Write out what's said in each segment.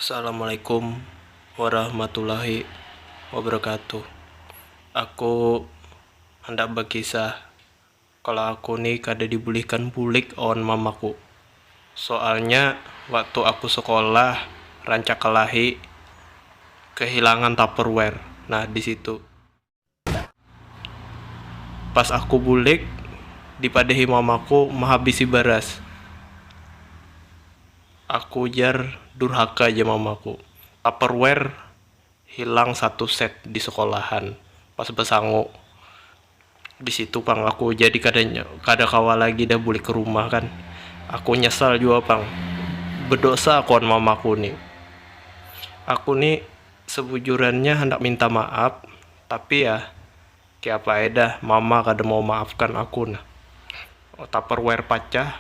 Assalamualaikum warahmatullahi wabarakatuh Aku handak bakisah Kalo aku ni kada dibulihkan bulik awan mamaku Soalnya waktu aku sekolah rancak kalahi kehilangan tupperware nah disitu. Pas aku bulik, dipadahi mamaku mahabisi baras. Aku jar durhaka ja mamaku. Tupperware hilang satu set di sekolahan pas basangu. Di situ pang aku jadi kada kada kawa lagi dah bulik kerumah kan. Aku nyesal jua pang, bedosa aku wan mamaku ni. Aku ni. Sebujurannya handak minta maaf, tapi ya keapa ai dah mama kada mau maafkan aku nah. Tupperware pacah.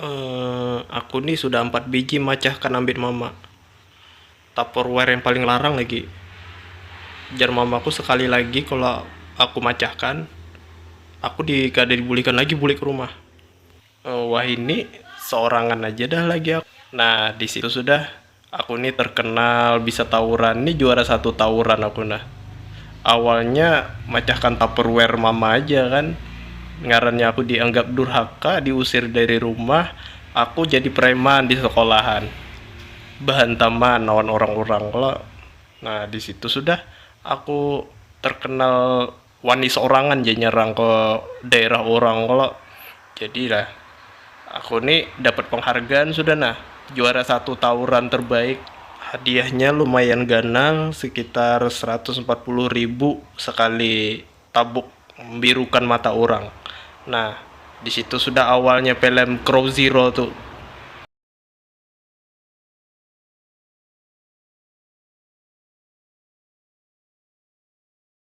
Emm, aku ni sudah ampat biji macahkan ambit mama. Tupperware yang paling larang lagi. Jar mamaku sekali lagi kalo aku macahkan, aku di kada dibulikan lagi bulik rumah. Uh, wah ini seorangan aja dah lagi aku. Nah, di situ sudah aku nih terkenal bisa tawuran. Nih juara satu tawuran aku nah. Awalnya macahkan tupperware mama aja kan. Ngarannya aku dianggap durhaka, diusir dari rumah. Aku jadi preman di sekolahan. Bahantaman lawan orang-orang kalau. Nah, di situ sudah aku terkenal wani saurangan ja nyerang ke daerah urang kalo jadi lah aku ni dapat penghargaan sudah nah juara satu tawuran terbaik hadiahnya lumayan ganal sekitar seratus empat puluh ribu sekali tabuk membirukan mata urang nah disitu sudah awalnya pelem crow zero tu.